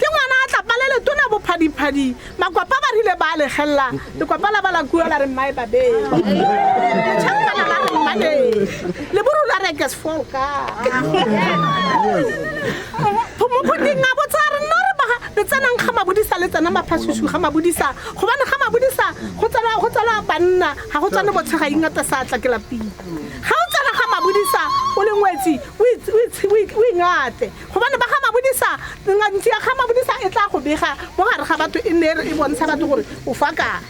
ke ngwana a tlapa le letona bophadiphadi makwapa ba rile ba a legelela lekwapa la ba la kua la re mmae babeng champana la re mmane leburu la rekes fol ka phomokgoting a botsa re nna re baga re tsenang ga mabodisa le tsena maphasusu ga mabodisa gobane ga mabodisa go tsena go tsena banna ga go tswane botshega ingata sa tla ke lapile ga o tsena ga mabodisa o le ngwetsi o itse- o itse- o ik- o ingate gobane ba ga mabodisa ngantsi ya ga mabodisa e tla go bega mo gare ga batho e nne e re- e bontsha batho gore o fa kae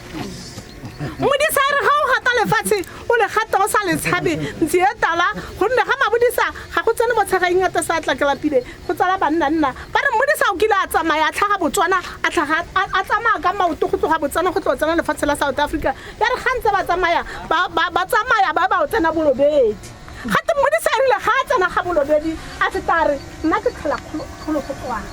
modisa a re ga o gata lefatshe o le gata o sa le tshabe ntsi e tala gonne ga mabodisa ga go tsene motshegang ngata sa tlakelapile go tsala bannanna ba re modisa o kile a tsamaya a tlhaga botswana a tlhaga- a a tsamaya ka maoto go tloga botswana go tlo tsena lefatshe la south africa ya re ga ntse ba tsamaya ba- ba ba tsamaya ba ba o tsena bolobedi gate mmodisa erile ga a tsena ga bolobedi a feta a re nna ke tlhola kgolo go tswana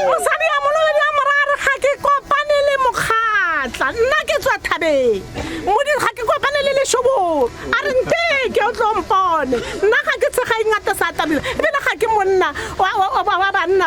mosadi ya molobedi wa mora re ga ke kopane le mokgatla nna ke tswa thabeng modi ga ke kopane le leshobolo a re nteke o tlo mpone nna ga ke tshega ingata sa tabile ebile ga ke monna wa banna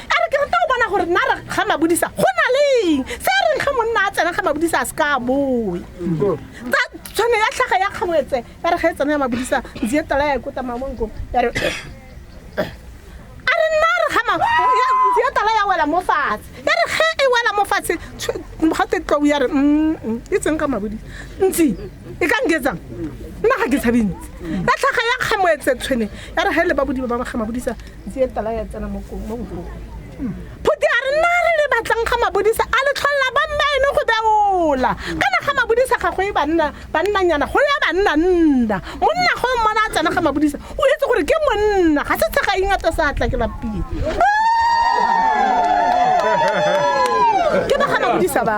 a re ke rata go bona gore nna re ga mabodisa go na leng se a reng ga monna a tsena ga mabodisa a se ka a boe tsa tshwane ya tlhaga ya kgabetse ya re ga e tsena ya mabodisa ntse e tala ya ikota mamonko ya re a re nna re ga ma- ya- ntse e tala ya wela mo fatshe ya re ge e wela mo fatshe tshw- gate tlou ya re "Mm, mm, e tseng ka mabodisa ntsi e ka nketsang nna ga ke tshabe ntsi ya tlhaga ya kgametse tshwene ya re ga e le babodiba ba ba ga mabodisa ntse tala ya tsena mo mo nkong phuti a re nna re le batlang ga mabodisa a le tlholela ba nna ene go beola kana ga mabodisa ga go e banna bannanyana go ya banna nna monna go mmona a tsena ga mabodisa o etse gore ke monna ga se tshega ingata sa tla ke lapile ke ba ga mabodisa ba